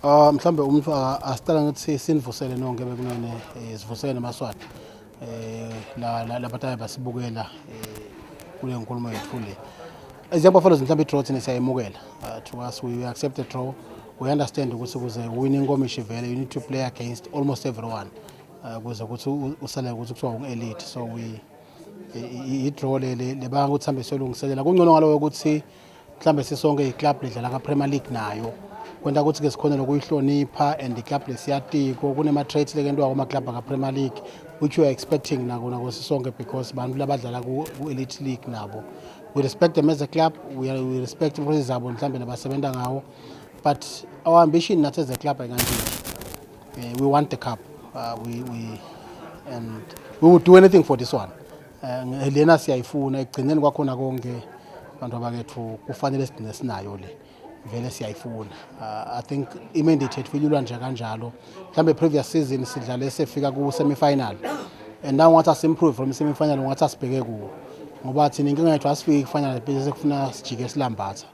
Ah mhlambe umuntu asicela ukuthi sinivusele nonke bekunene eh, sivusele nemaswati eh la la labataya basibukela eh, kule nkulumo yethu le as young buffaloes mhlawumbe i-draw thina siyayemukela uh, to us we, we accept the draw we understand ukuthi kuze wine inkomishi vele you need to play against almost everyone uh, kuze ukuthi usale ukuthi kuthiwa ungu-elite so we i-draw le le banga ukuthi hambe siyolungiselela kungcono ngaloyo ukuthi mhlambe sisonke iclub lidlala kapremier league nayo kwenta ukuthi ke sikhone lokuyihlonipha and iclub lesiyatiko kunema-traits lekentiwa kwamaclub akapremier league which we are expecting nakona kwesisonke because bantu labadlala ku-elite league nabo we respect them as a club we, are, we respect improses zabo mhlawumbe nabasebenza ngawo but our ambition nathi as a club ayikantini uh, eh, we want the cup uh, we, we, and we will do anything for this one Eh, lena siyayifuna ekugcineni kwakhona konke abantu abakethu kufanele sigcine sinayo le vele siyayifuna uh, i think imandate yethu ilula nje kanjalo mhlawumbe previous season sidlale sefika ku-semifinal and now ngathi asimprove from semifinal ngathi asibheke kuwo ngoba thina inkinga yethu asifiki kufanele bese sekufuna sijike silambatha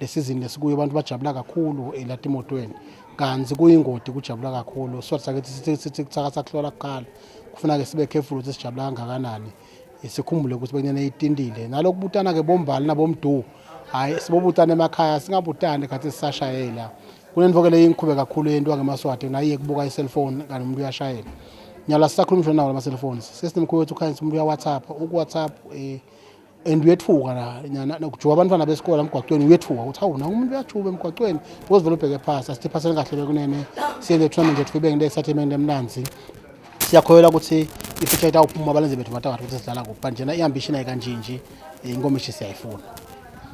Le sizini lesikuyo abantu bajabula kakhulu elatimotweni kanti kuyingodi kujabula kakhulu so sakithi sithi sithi kuthakatha kuhlola kuqala kufuneka sibe careful ukuthi sijabula kangakanani sikhumbule ukuthi bekunyana itindile nalokhu butana ke bombali nabomdu hayi sibobutana emakhaya singabutani khathi sisashayela kunento ke leyo ingikhube kakhulu yento ngemaswati naye kubuka iselfone kanti umuntu uyashayela nyala sisakhuluma nawo lama cellphones sesinemkhuba ukuthi ukhanyisa umuntu uya WhatsApp uku WhatsApp eh and uyethuka la nyana kujuka abantwana besikole emgwaqweni uyethuka ukuthi hawu naku umuntu uyajuba emgwaqweni because vele ubheke phasi asithi phasele kahle bekunene siye le tournament yethu ibe ngile excitement emnanzi siyakhoyela ukuthi ifuture yethu awuphuma abalenze bethu batakade ukuthi sidlala kuphi but njena i-ambition ayikanjinji inkomishi siyayifuna